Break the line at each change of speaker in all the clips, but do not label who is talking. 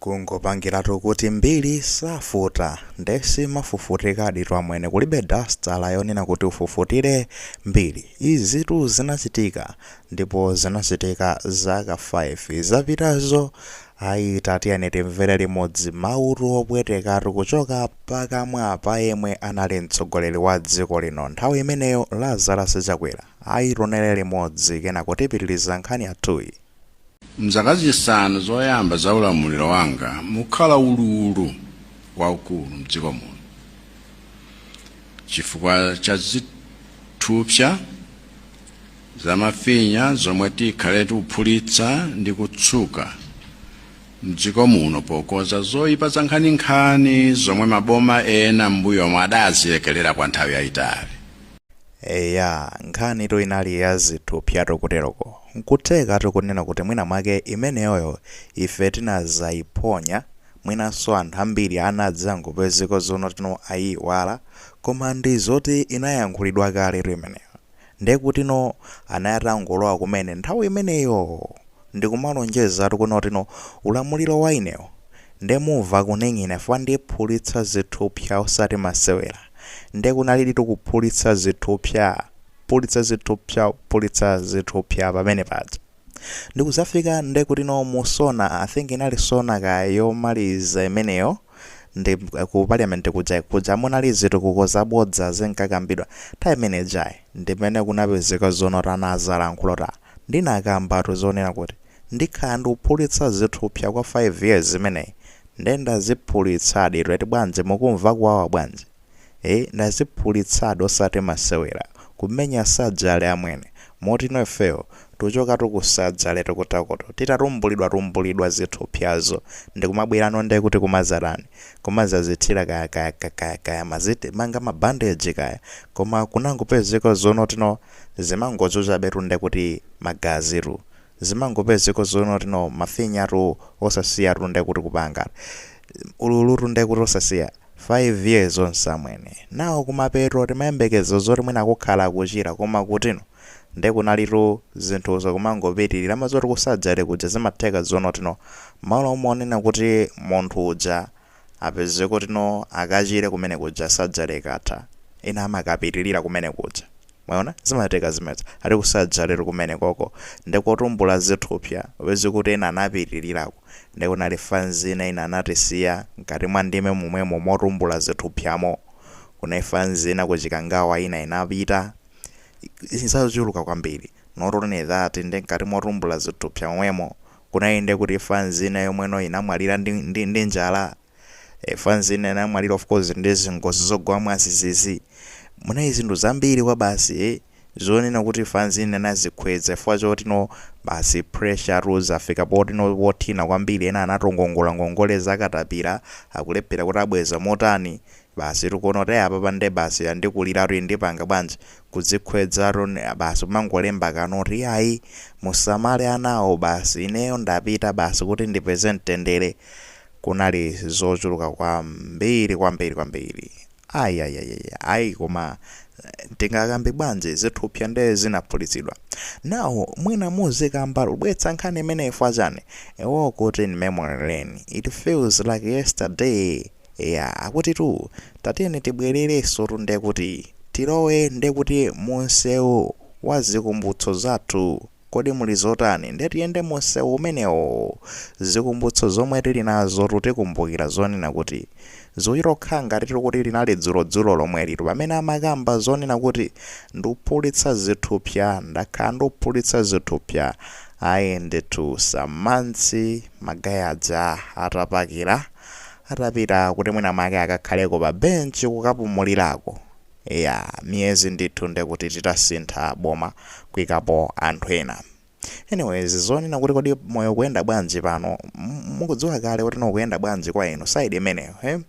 Kungopangilatu kuti mbiri safuta nde simafufutikaditu amwene kulibe dastala yonena kuti ufufutire mbiri izitu zinachitika ndipo zinachitika zaka 5 zapitazo ayi tatiyeni timvere limodzi mawutu opwetekatu kuchoka pakamwa pa yemwe anali mtsogoleri wa dziko lino nthawi imeneyo Lazarus Chakwera ayi tionele limodzi kenako tipitiliza nkhani yathuyi.
M'zaka zisanu zoyamba za ulamuliro wanga mukhala ululu waukulu m'dziko muno chifukwa cha zithupsa za mafinya zomwe tikhale tikuphulitsa ndi kutsuka m'dziko muno pokonza zoipa zankhaninkhani zomwe maboma ena m'mbuyomo adazilekerera kwa nthawi yayitali.
Eya, nkhanitu inali ya zithupsatu kuteroko. N'kuthekatu kunena kuti mwina mwake imeneyoyo ife tinadzaiponya, mwinanso anthu ambiri anadzangopezeka zoonotino aiiwala, koma ndi zoti inayankhulidwa kaletu imeneyo. Nde kutino anali atangolowa kumene nthawi imeneyo! Ndikumalonjezatu kuno tino ulamuliro wa inewo nde mumva kuning'ina fukwa ndiphulitsa zithupsa osati masewera nde kunaliditu kuphulitsa zithupsa phulitsa zithupsa phulitsa zithupsa pamene paja ndikuzafika nde kutino mu SONA I think inali SONA kaya yomaliza imeneyo ndi ku parliament kuja kuja munali zitukuko zabodza zinkakambidwa nthawi imene ijayi ndimene kunapezeka zonoti anazalankhula kuti ah Ndinakambatu zonena kuti ndikhala ndikuphulitsa zithupsa kwa 5 years imeneyi nde ndaziphulitsaditu eti bwanji mukumva kuwawa bwanji ee ndaziphulitsadi osati masewera kumenya surgery amwene motino ifeyo tuchokatu ku surgery tikutakoto titatumbulidwa tumbulidwa zithupsazo ndikumabwerano nde kuti kumazatani kumazazithira kaya kaya kaya kaya mazitimanga ma bandage kaya koma kunangopezeka zonotino zimangochuchabetu ndekuti magazitu zimangopezeka zono tino mafinyatu osasiyatu ndekuti kupanga ululutu ndekuti osasiya 5 years onse amwene nawo kumapeto timayembekeza zoti mwina kukhala kuchira koma kutino nde kunalitu zinthuzo kumangopitilira amazoti ku surgery kuja zimatheka zono tino malo monena kuti munthu uja apeze kuti no akachire kumene kuja surgery ikatha ena amakapitilira kumene kuja mwaona zimatheka zimenezo eti ku surgery kumene koko nde kotumbula zithupsya upeze kuti ena anapitilirako nde kunali fanzi ina ina anatisiya mkati mwa ndime momwemo motumbula zithupsyamo kunali fanzi ina ku Chikangawa ina inapita zachuluka kwambiri not only that nde mkati motumbula zithupsya momwemo Kuna inde kuti fanzi ina yomwe no inamwalira ndi ndi ndi njala e fanzi ina inamwalira of course ndi zingozi zogwa mwadzidzidzi munali zinthu zambiri kwabasi e zonena kuti fanzi ina inadzikhweza chifukwa choti no basi pressure tu zafika poti no pothina kwambiri ena anatongongola ngongole za katapila akulephera kuti abweza motani basi tikuona kuti apapa nde basi yandikuliratu ndipanga bwanji kudzikhwezatu basi kumangolemba kanoti yayi musamale anawo basi ineyo ndapita basi kuti ndipeze mtendere kunali zochuluka kwambiri kwambiri kwambiri ayayayaya ayi koma tingakambe bwanji zithupsya nde zinaphulitsidwa now mwina muzikamba tubwetsa nkhani imeneyi fwa chani ewo kuti in memory lane it feels like yesterday Eya akutitu tatiyeni tibwererensotu ndekuti tilowe ndekuti munsewu wa zikumbutso zathu kodi muli zotani nde tiyende munsewu umenewo zikumbutso zomwe tili nazotu tikumbukira zonena kuti zikuchita kukhala ngatitu kuti linali dzulo dzulo lomwelitu pamene amakamba zonena kuti nduphulitsa zithupsya ndakhala nduphulitsa zithupsya ayi ndetu some months magaye aja atapakira atapita kuti mwina mwake akakhaleko pa bench kukapumulirako eya miyezi ndithu ndekuti titasintha boma kuikapo anthu ena anyways zonena kuti kodi moyo ukuyenda bwanji pano m- mukudziwa kale kuti no ukuyenda bwanji kwa inu side imeneyo eh?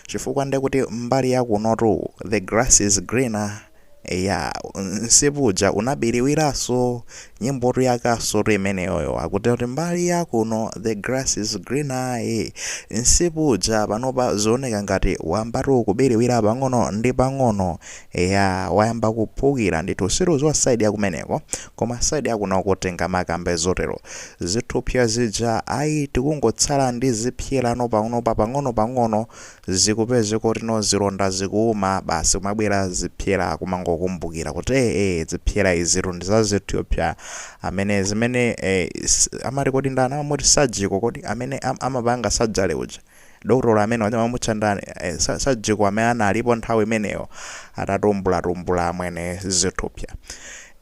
chifukwa ndekuti mbali yakunotu the grass is greener Eya, msipu uja unabiriwiranso. Nyimbotu yakasotu imeneyoyo. Akuti kuti mbali ya kuno the grass is greener. eh. Msipu uja panopa zioneka ngati wayambatu kubiriwira pang'ono ndi pang'ono. Eya, wayamba kuphukira ndithu. Situdziwa side ya kumeneko. Koma side ya kunoko tingamakambe zotero. Zithupsa zija ayi tikungotsala ndi zipsyerano panopa pang'onopang'ono. zikupezeka kuti no zilonda zikuuma basi kumabwera zipsera kumangokumbukira kuti eeh zipsera izitu ndi za zithupsa amene zimene eeh amati kodi ndani amamuti surgical kodi amene am, amapanga surgery uja dotolo amene uja amamutcha ndani eh, sa- surgical amene analipo nthawi imeneyo atatumbulatumbula amwene zithupsa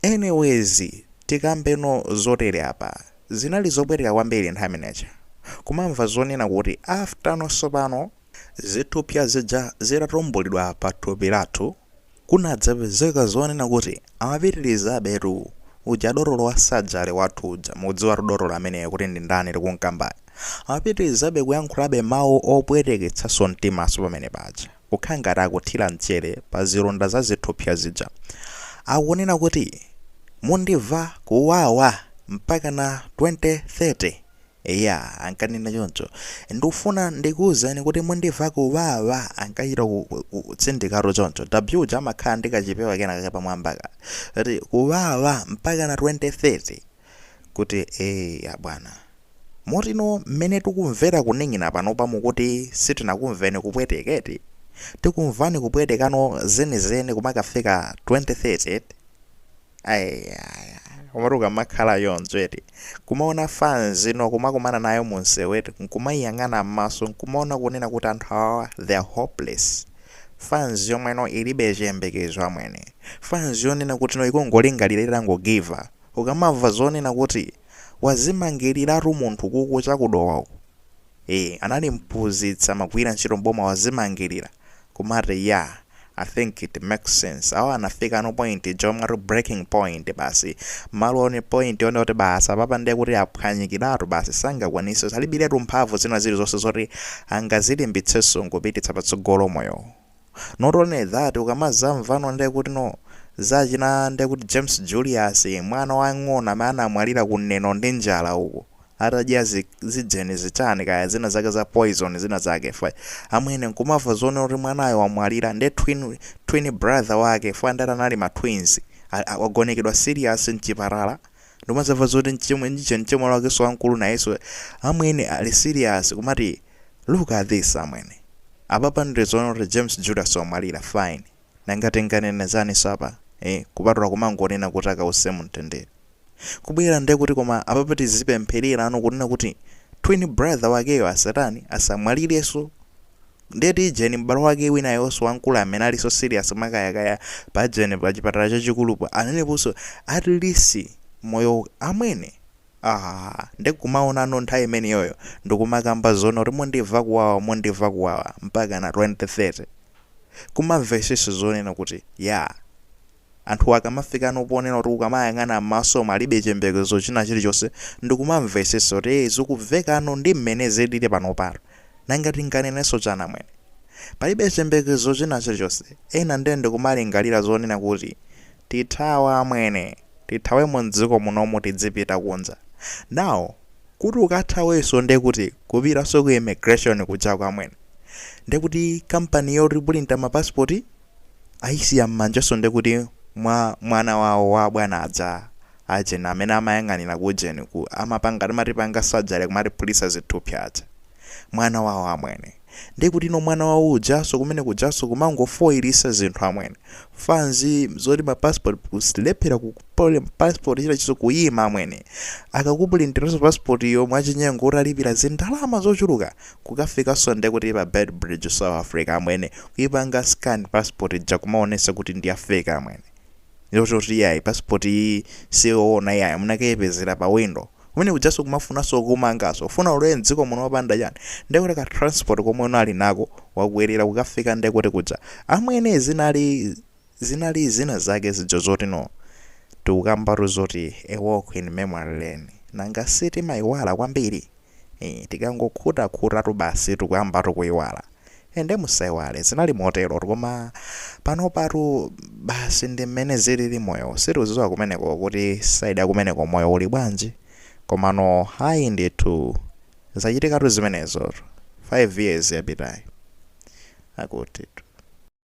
anyways tikambeno zotere apa Zinali zopweteka kwambiri nthawi imeneja kumamva zonena kuti after no tsopano zithupsya zija zitatumbulidwa pa thupi lathu kunadzapezeka zonena kuti amapitilizabetu uja dotolo wa surgery wathu uja mukudziwatu dotolo ameneyo kuti ndi ndani tikumkambayo amapitilizabe kuyankhulabe mau opweteketsanso mtimanso pamene paja. kukhala ngati akuthira mchere pa zilonda za zithupsa zija. Akunena kuti, Mundimva kuwawa mpakana 2030. Eya, ankanena choncho. Ndikufuna ndikuuzeni kuti mundimva kuwawa, ankachita ku- ku- ku- kutsindikatu choncho. W uja amakhala ndi kachipewa kena kake pamwambaka. Kuti, Kuwawa mpakana 2030. Kuti, Eya, bwana. Motino, mmene tukumvera kuning'ina panopa mukuti sitinakumveni kupweteka, eti? Tikumvani kupwetekano zenizeni kumakafika 2030, eti? Eya, komatu ukamakhala choncho, eti, kumaona fans ino kumakumana nayo mumsewu, eti, nkumaiyang'ana mmaso nkumaona kunena kuti anthu awawa they are hopeless, fans yomweno ilibe chiyembekezo amwene, fans yonena kutino ikungolingalira itango giver. Ukamamva zonena kuti wazimangiliratu munthu kuku cha ku Dowa uku ee anali mphunzitsi amagwira ntchito m'boma wazimangilira kumati yah I think it makes sense awa anafikano point ija yomati breaking point basi malo one point one oti basi apapa ndiye kuti aphwanyikiratu basi sangakwanise alibiletu mphamvu zina zilizonse zoti angazilimbitseso nkupititsa patsogolo moyowo. not only that ukamazamvano ndekutino za achina ndekuti James Julius mwana wang'ono amene anamwalira ku Neno ndi njala uko atadya zi, zijeni zichani kaya zina zake za poison zina zake fwa amwene nkumava zonena kuti mwanayo wamwalira nde twin, twin brother wake fwa ndati anali ma twins a- a- wagonekedwa serious mchipatala ndimazamva zoti mchimwe ndiche mchimwe wakenso wamkulu nayenso amwene ali serious kumati Look at this amwene. Apapa nde zoona kuti James Julius wamwalira fine. Nanga tinganene zaninso apa eh kupatula kumangonena kuti akause mumtendere. Kubwera nde kuti koma apapa tizipemphererano kunena kuti twin brother wakeyo asatani asamwalirenso. Nde kuti ujeni m'bale wake winayonso wamkulu amene alinso serious mwakayakaya pajeni pachipatala chachikulupo aneneponso at least moyowu amwene. Aaa nde kumaonano nthawi imeneyoyo ndikumakamba zoona kuti mundiva kuwawa mundiva kuwawa mpakana 2030 kumavesesa zonena kuti yaa anthuwa akamafikano ponena kuti ukamayang'ana mmaso umu alibe chiyembekezo china chilichonse ndikumamvesesa kuti ee zikuvekano ndimmene zilili panopatu nanga tinganeneso chani amwene palibe chiyembekezo china chilichonse ena nde ndikumalingalira zonena kuti Tithawa amwene. Tithawemo mdziko munomu tidzipita kunja. Now kuti ukathaweso nde kuti kupitaso ku immigration kujako amwene. Nde kuti company yotipulinta ma passport ayisiya mmanjaso nde kuti mwa mwana wawo wa abwana aja ajeni amene amayang'anira ku ujeni ku amapanga timatipanga surgery kumatiphulisa zithupsa aja. Mwana wawo amwene. Ndekutino mwana wawo ujanso kumene kujanso kumangofoilisa zinthu amwene. Fanz zoti ma passport kuzilephera kupulinta passport china chilichonse kuima amwene. Akakupulintiranso passport yo mwachinyengo utalipira zindalama zochuluka kukafikanso ndekuti pa Beitbridge South Africa amwene kuipanga scan passport ija kumaonesa kuti ndiya fake amwene. yoti iyayi passport iyi siyoona yayi munakayipezera pa window kumene kujaso kumafunaso kumangaso ufuna ulowe mdziko muno wapanda chani ndekuti ka transport komwe unali nako wakwelera kukafika ndekuti kuja amwene zinali zinali zina zake zijo zoti no tikukambatu zoti a walk in memory lane nanga sitimayiwala kwambiri Eeh tikangokhutakhuta-tu basi tikuyamba-tu kuyiwala. Eeh nde musayiwale zinali motero-tu koma panopa-tu basi ndi mmene zilili moyo-wu sitiudziwa kumeneko-ko kuti side ya kumeneko moyo uli bwanji komano ayi ndithu zachitika-tu zimenezo-tu 5 years yapitayi akuti-tu.